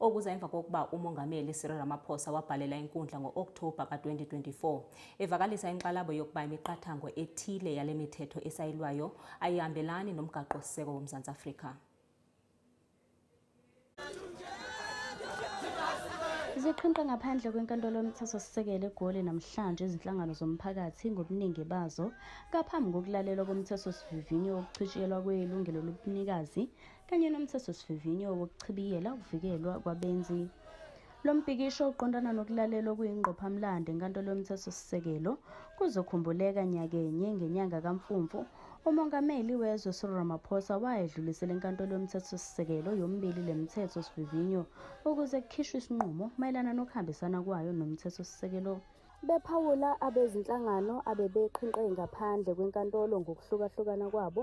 okuza emva kokuba umongameli Cyril Ramaphosa wabhalela inkundla ngo-Okthoba ka-2024 evakalisa inxalabo yokuba imiqathango ethile yale mithetho esayilwayo ayihambelani nomgaqo-siseko woMzantsi Afrika. Ziqhinqa ngaphandle kwenkantolo yomthethosisekelo eGoli namhlanje izinhlangano zomphakathi ngobuningi bazo ngaphambi kokulalela komthethosivivinyo wokuchitshiyelwa kwelungelo lobunikazi kanye nomthethosivivinyo wokuchibiyela ukuvikelwa kwabenzi lo mpikisho uqondana nokulalela okuyingqophamlando enkantolo yomthethosisekelo kuzokhumbuleka nyakenye ngenyanga kamfumfu umongameli wezwe cyril ramaphosa wayedlulisela enkantolo yomthethosisekelo yomibili le mithetho sivivinyo ukuze kukhishwe isinqumo mayelana nokuhambisana kwayo nomthethosisekelo bephawula abezinhlangano abebeqhinqe ngaphandle kwenkantolo ngokuhlukahlukana kwabo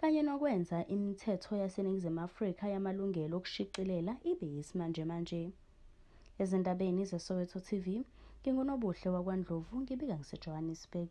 kanye nokwenza imithetho yaseNingizimu Afrika yamalungelo okushicilela ibe yisimanjemanje. Ezindabeni zeSoweto TV, nginguNobuhle wakwaNdlovu ngibika ngiseJohannesburg.